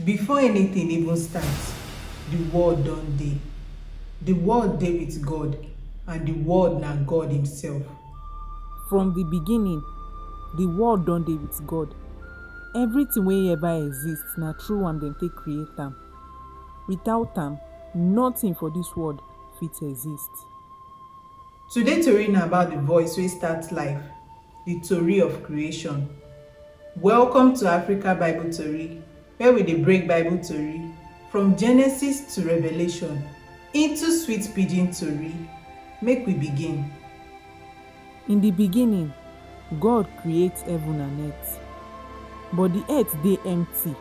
Before anything even start, the word don dey. The word dey with God and the word na God himself. From the beginning, the word don dey with God. Everything wey ever exist, na through am dem take create am. Without am, nothing for this world fit exist. Today tori na about the voice wey start life, the tori of creation. Welcome to Africa Bible Tori where we dey break Bible tori from Genesis to Revelation into sweet pidgin tori. Make we begin. In di beginning, God create heaven and earth, but di earth dey empty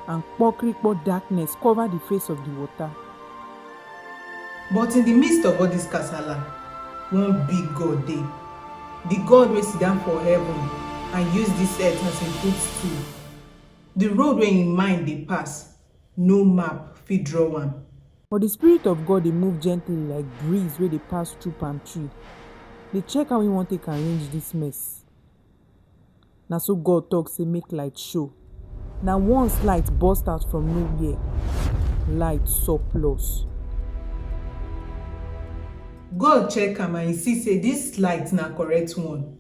and kpokrikpo darkness cover di face of di water. But in di midst of all dis kasala, one big God dey, di God wey sidon for heaven and use dis earth as im footstool, di road wey im mind dey pass No map fit draw am. But the Spirit of God dey move gently like breeze wey dey pass through palm tree, dey check how he wan take arrange this mess. Na so God talk say make light show. Na once light burst out from nowhere, light surplus. God check am and he see say this light na correct one.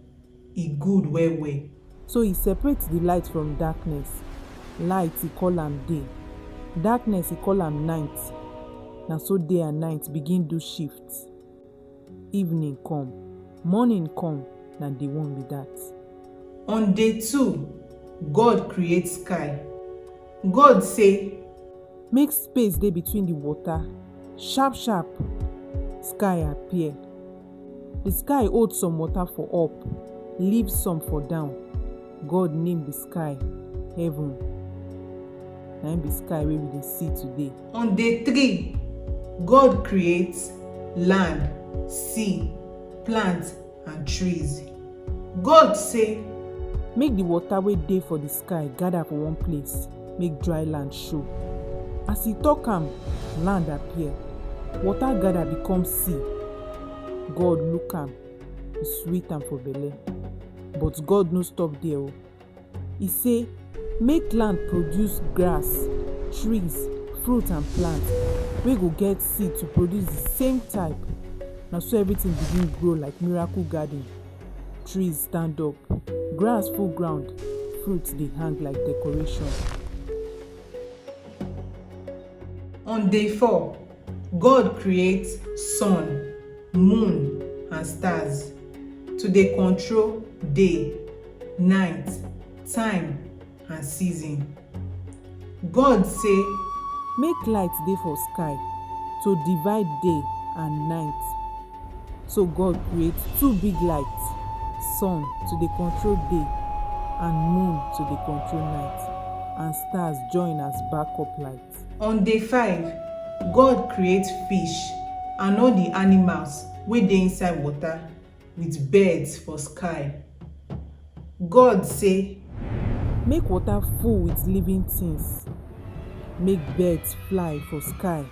e good well well. So he separate the light from darkness, light he call am day, darkness he call am night, na so day and night begin do shift, evening come, morning come, na day one be that. On day two, God create sky, God say. Make space dey between the water, sharp sharp sky appear. Di sky hold some water for up, leave some for down. God name di sky heaven, na im be sky wey we dey see today. On day three, God create land, sea, plants and trees. God say. Make di water wey dey for di sky gather for one place make dry land show. As he talk am, land appear, water gather become sea. God look am, e sweet am for belle. But God no stop there o, e say make land produce grass, trees, fruit and plant wey go get seed to produce the same type. Na so everything begin grow like miracle garden. trees stand up, grass full ground, fruits dey hang like decoration. On day four, God create sun, moon and stars to dey control day, night, time. and season. God say. Make light dey for sky to divide day and night. So God create two big light, sun to dey control day and moon to dey control night and stars join as backup light. On day five, God create fish and all the animals wey dey inside water. with birds for sky. God say. Make water full with living things, make birds fly for sky.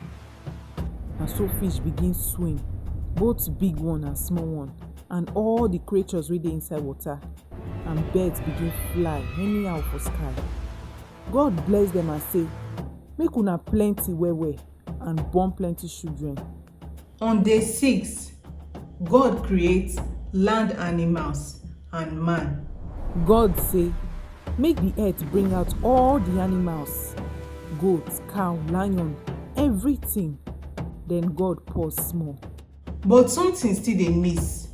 Na so fish begin swim, both big one and small one, and all the creatures wey dey inside water, and birds begin fly anyhow for sky. God bless them and say, Make una plenty well well and born plenty children. on day six god create land animals and man. god say make di earth bring out all di animals goat cow lion everything den god pause small. but something still dey miss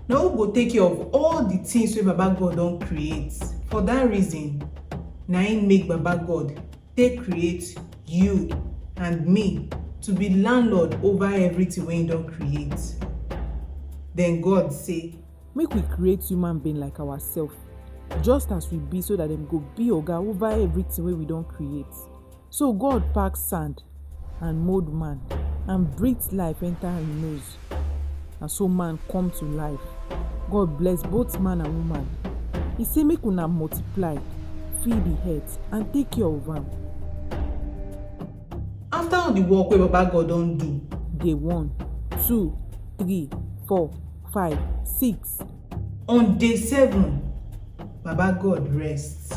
na who go take care of all di things wey baba god don create for dat reason na im make baba god take create you and me to be landlord over everything wey he don create then god say make we create human being like ourselves just as we be so that dem go be oga over everything wey we don create so god pack sand and mould man and breathe life enter him nose Na so man come to life. God bless both man and woman. He say make una multiply, fill the earth and take care of am. After all the work wey Baba God don do. Day one, two, three, four, five, six. On day seven, Baba God rest.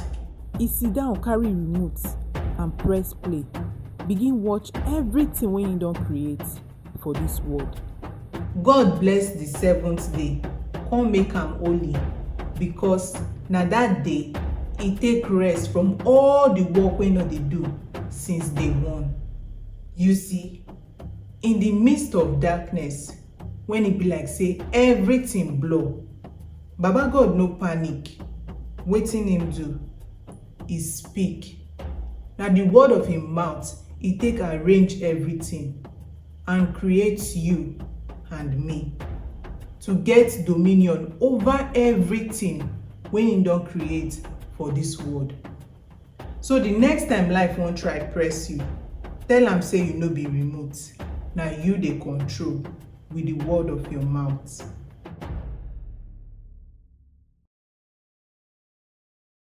He sit down carry remote and press play, begin watch everything wey he don create. for dis world. God bless di seventh day kon make am holy, bikos na dat day e take rest from all di work wey e don dey do since day one. You see, in di midst of darkness, wen e be like sey evritin blur, Baba-God no panic. Wetin im do? e speak, na di word of im mouth e take arrange evritin and create you and me to get dominion ova evritin wey im don create for dis world. So di next time life wan try press you, tell am say you no be remote, na you dey control wit di word of your mouth.